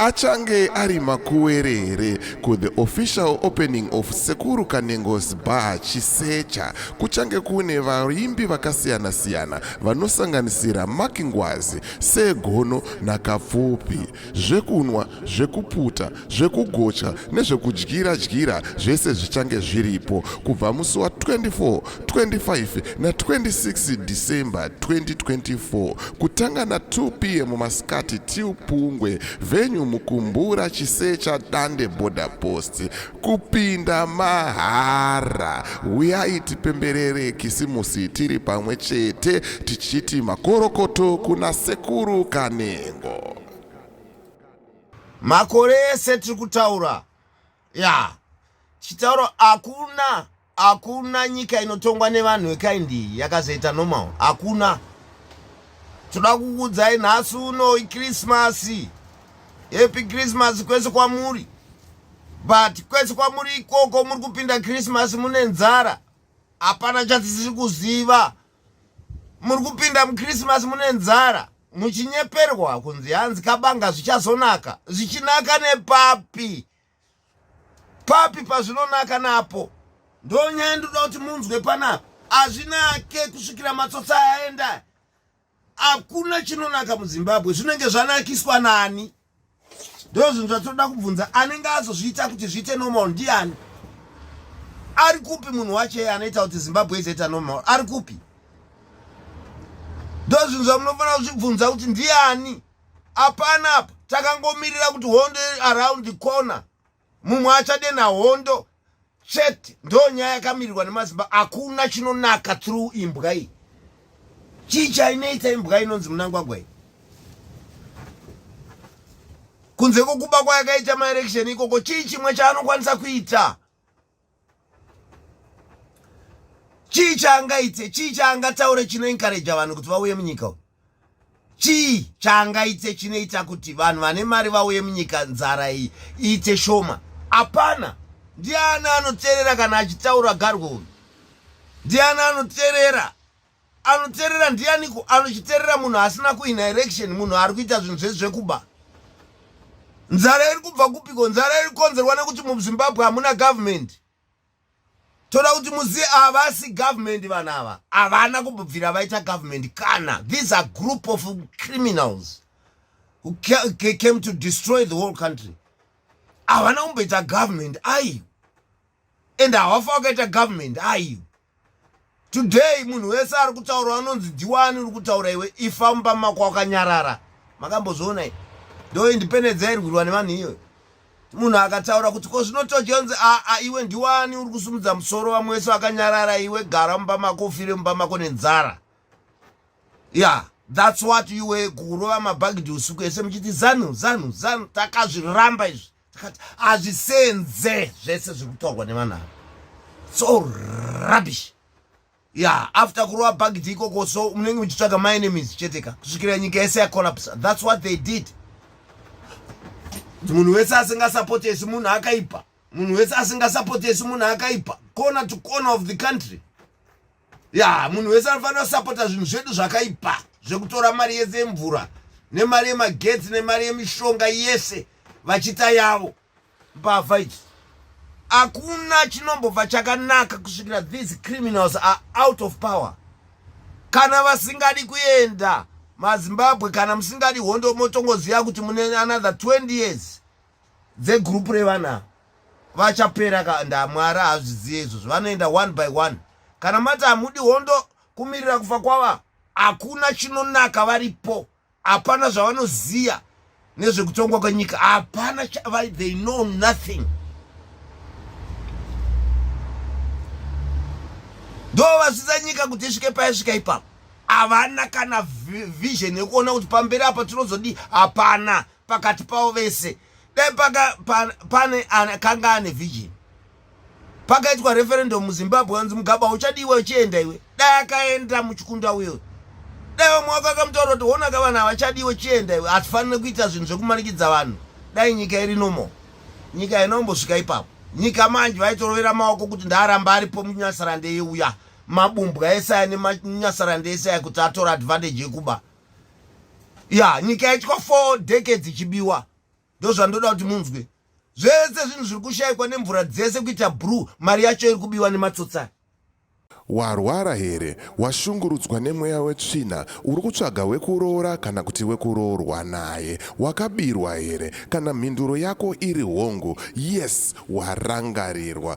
Achange ari makuwere here ku the official opening of Sekuru Kanengo's Bar Chisecha kuchange kune vaimbi vakasiyana siyana vanosanganisira Mark Ngwazi, Sir Gono na Kapfupi. Zvekunwa, zvekuputa, zvekugocha nezvekudyira dyira zvese zvichange zviripo kubva musi wa 24 25 na 26 December 2024 kutanga na 2 pm masikati till Pungwe venue Mukumbura Chisecha Dande Border Post kupinda mahara huyai tipemberere kisimusi tiri pamwe chete tichiti makorokoto kuna sekuru Kanengo makore ese tiri kutaura ya chitauro hakuna hakuna nyika inotongwa nevanhu vekaindi iyi yakazoita normal hakuna toda kukuudzai nhasi uno ikrismasi happy christmas kwese kwamuri but kwese kwamuri ikoko muri kupinda christmas mune nzara hapana chatisiri kuziva muri kupinda muchristmas mune nzara muchinyeperwa kunzi hanzi kabanga zvichazonaka zvichinaka nepapi papi pazvinonaka napo ndonyaya ndoda kuti munzwe panapa hazvinake kusvikira matsotsi ayaenda hakuna chinonaka muzimbabwe zvinenge zvanakiswa nani ndo zvinhu zvatoda kubvunza anenge azozviita kuti zviite normal ndiani ari kupi munhu wache anoita kuti zimbabwe izoita normal ari kupi ndo zvinhu zvamunofanira kuzvibvunza kuti ndiani apana apa takangomirira kuti hondo around the corner mumwe achade nahondo chete ndo nyaya yakamirirwa nemazimba hakuna chinonaka through imbwa iyi chii chainoita imbwa inonzi munangwagwa iyi kunze kwokuba kwayakaita maelection ikoko chii chimwe chaanokwanisa kuita chii chaangaite chii chaangataure chinoenkareja vanhu kuti vauye munyika u chii chaangaite chinoita kuti vanhu vane mari vauye munyika nzara iyi iite shoma hapana ndiani anoteerera kana achitaura garwo uyu ndiani anoteerera anoterera ndianiko anochiterera munhu asina kuina election munhu ari kuita zvinhu zvezvekuba nzara iri kubva kupiko nzara iri kukonzerwa nekuti muzimbabwe hamuna government toda kuti muzive havasi government vanhu ava havana kubvira vaita government kana these are group of criminals who came to destroy the whole country havana kumboita government aiyo and hawafa wakaita government aiyo today munhu wese ari kutaura anonzi diwani uri kutaura iwe ifa mumba mako wakanyarara makambozviona i ndo independence yairwirwa nevanhu iyoyo munhu akataura kuti ko zvinotojonzi aa iwe ndiwani uri kusumudza musoro vamwe wese vakanyarara iwe gara mumba mako ufire mumba mako nenzara ya yeah. thats what you were kurova mabhagidhi usiku ese muchiti zanu zanu zanu takazviramba izvi hazvisenze zvese zviri kutaurwa nevanhu ava so rubbish ya after kurova bhagidhi ikoko so munenge muchitsvaga maenemies chete ka kusvikira nyika yese yacollapse thats what they did munhu wese asingasapotesi munhu akaipa munhu wese asingasapotesi munhu akaipa corner to corner of the country ya munhu wese anofanira kusapota zvinhu zvedu zvakaipa zvekutora mari yese yemvura nemari yemagetsi nemari yemishonga yese vachita yavo mbavha idzi hakuna chinombobva chakanaka kusvikira these criminals are out of power kana vasingadi kuenda mazimbabwe kana musingadi hondo motongoziva kuti mune another 20 years dze group revana vachapera ka ndamwari hazviziye izvozvo vanoenda one by one kana mati hamudi hondo kumirira kufa kwava hakuna chinonaka varipo hapana zvavanoziya nezvekutongwa kwenyika hapana they know nothing ndo vazvidza nyika kuti isvike paisvika ipapo havana kana vision yekuona kuti pamberi apa tinozodii hapana pakati pavo vese dai pane akanga ane vision pakaitwa referendum muzimbabwe anzi mugaba uchadiwa uchienda iwe dai akaenda muchikunda uyo dai vamwe wako akamutaura kuti honaka vanhu havachadiwe chienda iwe hatifanire kuita zvinhu zvekumanikidza vanhu dai nyika iri nomo nyika haina kumbosvika ipapo nyika manje vaitorovera maoko kuti ndaaramba aripo munyasarande yeuya mabumbwa esaya nemunyasarande esaya kuti atora advantage yekuba ya nyika yaitwa four decades ichibiwa ndozvandoda kuti munzwe zvese zvinhu zviri kushayikwa nemvura dzese kuita brue mari yacho iri kubiwa nematsotsai warwara here washungurudzwa nemweya wetsvina uri kutsvaga wekuroora kana kuti wekuroorwa naye wakabirwa here kana mhinduro yako iri hongu yes warangarirwa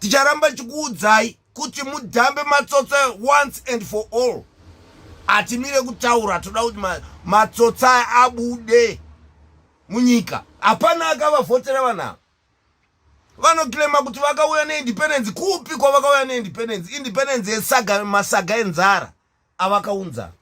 ticharamba tichikuudzai kuti mudhambe matsotsa once and for all hatimire kutaura toda kuti matsotsa aya abude munyika hapana akavavhotera vanhu ava vanokilema kuti vakauya neindependence kupi kwavakauya neindependence independence yesaga masaga enzara avakaunza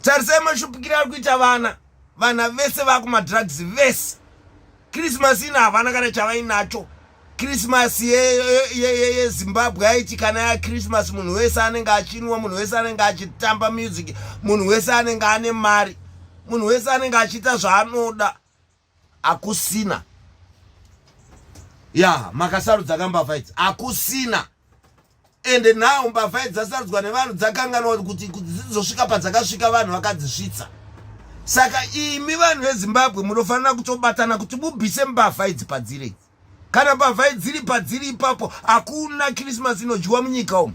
tarisai mashupikiro ari kuita vana vana vese vakumadrugs vese krismas ino havana kana chavainacho krismas yezimbabwe yaiti kana yakrismas munhu wese anenge achinwa munhu wese anenge achitamba music munhu wese anenge ane mari munhu wese anenge achiita zvaanoda akusina ya makasarudza ka mbavha idzi akusina ende now mbavha idzi dzasarudzwa nevanhu dzakanganwa kuti dzizosvika padzakasvika vanhu vakadzisvitsa saka imi vanhu vezimbabwe munofanira kutobatana kuti mubvise mbavha idzi padziri idzi kana mbavha idziri padziri ipapo hakuna krismas inodyiwa munyika umu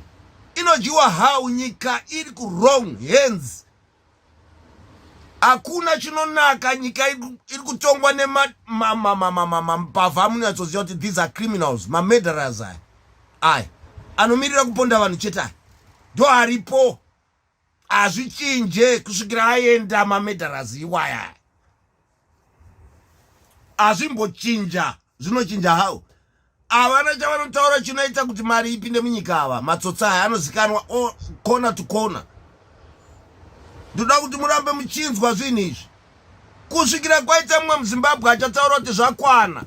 inodyiwa how nyika iri kurong hands hakuna chinonaka nyika iri kutongwa nemambavha amunyatsoziva kuti these are criminals mamurderers aya aya anomirira kuponda vanhu chete aya ndo aripo hazvichinje kusvikira aenda mamurderers iwaya azvimbochinja zvinochinja hao havana chavanotaura chinoita kuti mari ipinde munyika ava matsotsa aya anozikanwa kona to kona ndoda kuti murambe muchinzwa zvinhu izvi kusvikira kwaita mumwe muzimbabwe achataura kuti zvakwana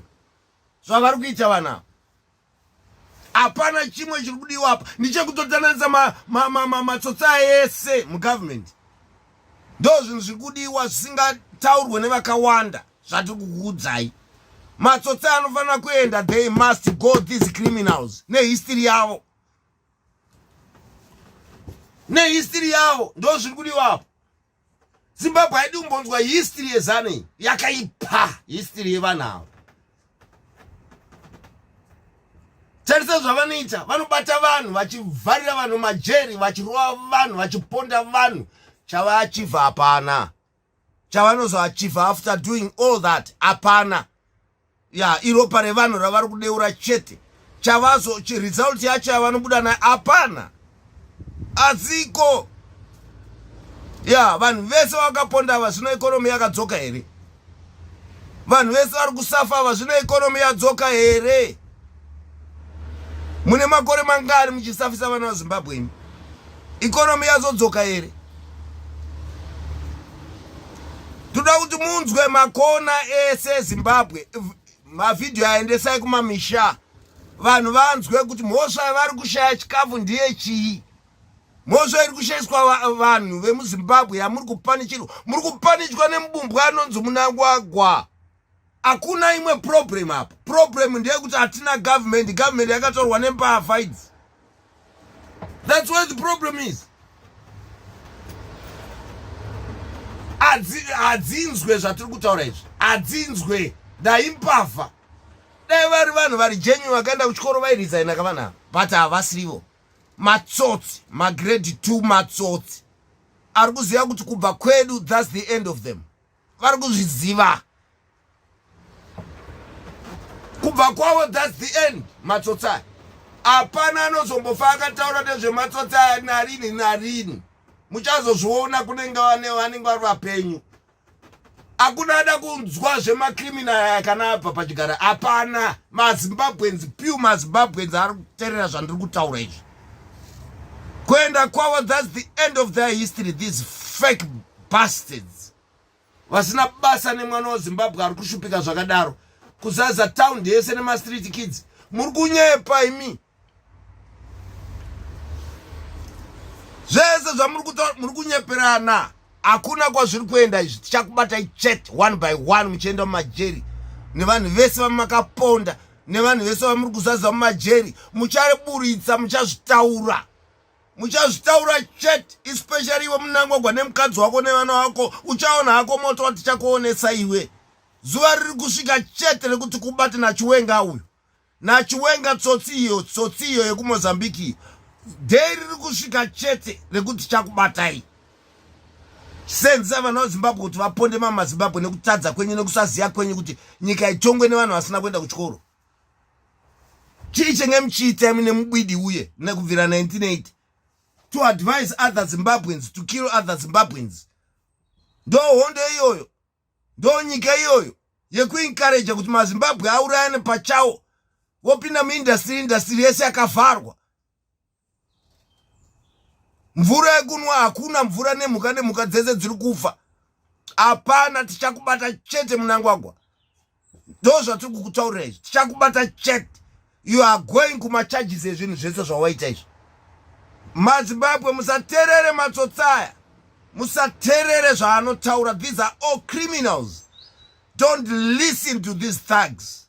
zvavari kuita vanavo hapana chimwe chiri kudiwa apa ndichekutotananisa matsotsa ma, ma, ma, ese mugovernment ndo zvinhu zviri kudiwa zvisingataurwe nevakawanda zvatiri kukuudzai matsotsa anofanira kuenda they must go these criminals nehistory yavo nehistory yavo ndo zviri kudiwa apa zimbabwe haidi kumbonzwa history yezanu iyi yakaipa history yevanhu ava tarisa zvavanoita vanobata vanhu vachivharira vanhu majeri vachirova vanhu vachiponda vanhu chavaachiva hapana chavanozoachiva after doing all that hapana ya iropa revanhu ravari kudeura chete chavazo result yacho yavanobuda nayo hapana adziko ya vanhu vese vakaponda ava zvino ekonomi yakadzoka here vanhu vese vari kusafa ava zvino ekonomi yadzoka here mune makore mangani muchisafisa vana vazimbabwe imi ikonomi yazodzoka here toda kuti munzwe makona ese ezimbabwe mavhidhiyo aendesai kumamisha vanhu vanzwe kuti mhosva yavari kushaya chikafu ndiye chii mhosva iri kushaiswa vanhu vemuzimbabwe yamuri kupanichirwa muri kupanichwa nemubumbwa anonzi munangwagwa hakuna imwe problem apa problem ndeyekuti hatina government government yakatorwa nembavha idzi thats why the problem is hadzinzwe zvatiri kutaura izvi hadzinzwe dai mbavha dai vari vanhu vari genuine vakaenda kuchikoro vairesigna ka vanhu ava but havasirivo matsotsi magrade two matsotsi ari kuziva kuti kubva kwedu thats the end of them vari kuzviziva kubva kwavo thats the end matsotsi aya hapana anozombofa akataura nezvematsotsi aya narini narini muchazozviona kunenge vanenge vari vapenyu hakuna ada kunzwa zvemakriminal aya kana abva pachigara hapana mazimbabwens piu mazimbabwens ari kuterera zvandiri kutaura izvi kuenda kwavo thats the end of their history these fake bastards vasina basa nemwana wezimbabwe ari kushupika zvakadaro kuzaza town yese nemastreet kids muri kunyepa imi zvese zvamuri kutaura muri kunyeperana hakuna kwazviri kuenda izvi tichakubatai chet one by one muchienda mumajeri nevanhu vese vamakaponda nevanhu vese vamuri kuzaza mumajeri muchariburitsa muchazvitaura muchazvitaura chet especially iwe munangwagwa nemukadzi wako nevana wako uchaona hako moto watichakuonesa iwe zuva riri kusvika chete rekuti kubate nachiwenga uyu nachiwenga tsotsi iyo tsotsi iyo yekumozambique iyo dei riri kusvika chete rekuti chakubatai senzisa vana vezimbabwe kuti vaponde mamazimbabwe nekutadza kwenyu nekusaziva kwenyu kuti nyika itongwe nevanhu vasina kuenda kuchikoro chii chenge muchiita imi nemubwidi uye nekubvira 1980 to advise other zimbabweans to kill other zimbabweans ndo hondo iyoyo ndo nyika iyoyo yekuencouraja kuti mazimbabwe aurayane pachawo vopinda muindastiri indastiri yese yakavharwa mvura yekunwa hakuna mvura nemhuka nemhuka dzese dziri kufa hapana tichakubata chete munangwagwa ndo zvatiri kukutaurira izvi tichakubata chete you are going kumacharges ezvinhu zvese zvawaita izvi mazimbabwe musaterere matsotsaya musaterere zvaanotaura these are all criminals don't listen to these thugs